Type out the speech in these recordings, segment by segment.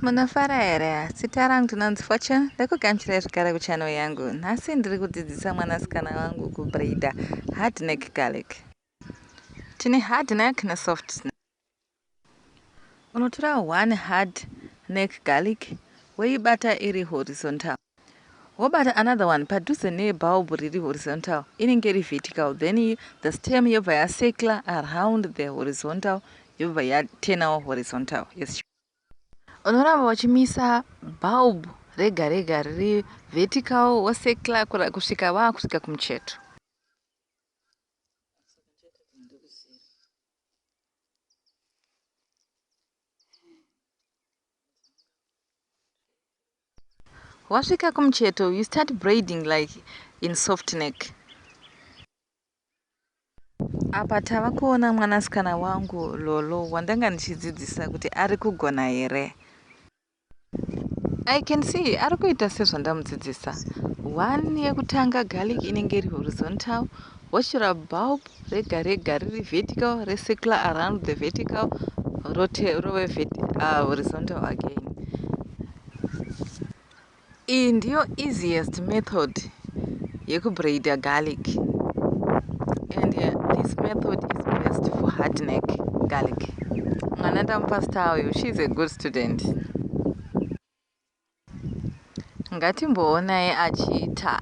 Munofara here zita rangu ndinonzi fortune ndikugamuchirai zvekare kuchannel yangu nhasi ndiri kudzidzisa mwanasikana wangu kubraider hard neck garlic tine hard neck nesoft unotora one hard neck garlic woibata iri horizontal Wobata another one padhuze ne bulb riri horizontal inenge iri vertical then the stem yobva ya circler around the horizontal yobva ya turnawo horizontal yes sure. Unoramba uchimisa bulb rega rega riri vertical wo circler kusvika vaa kusvika kumucheto. Wasvika kumucheto you start braiding like in soft neck. Apa tava kuona mwanasikana wangu Lolo wandanga ndichidzidzisa kuti ari kugona here. I can see ari kuita sezvandamudzidzisa. One yekutanga garlic inenge iri horizontal, wochera bulb rega rega riri vertical recircular around the vertical rote rove uh, horizontal again iyi ndiyo easiest method yekubraida garlic and uh, this method is best for hard neck garlic mwana ndamupa star uyu she is a good student ngatimboonai achiita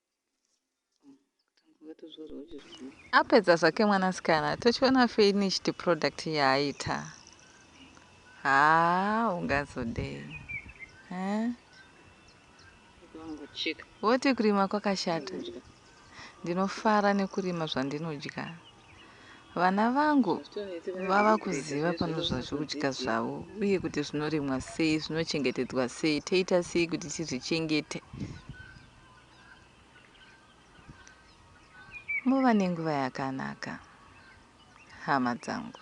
apedza zvake mwanasikana tochiona finished product yaaita haa ungazodei eh? voti kurima kwakashata ndinofara nekurima zvandinodya vana vangu vava kuziva pano zvazvokudya zvavo uye kuti zvinorimwa sei zvinochengetedzwa sei toita sei kuti tizvichengete Muva nenguva yakanaka hama dzangu.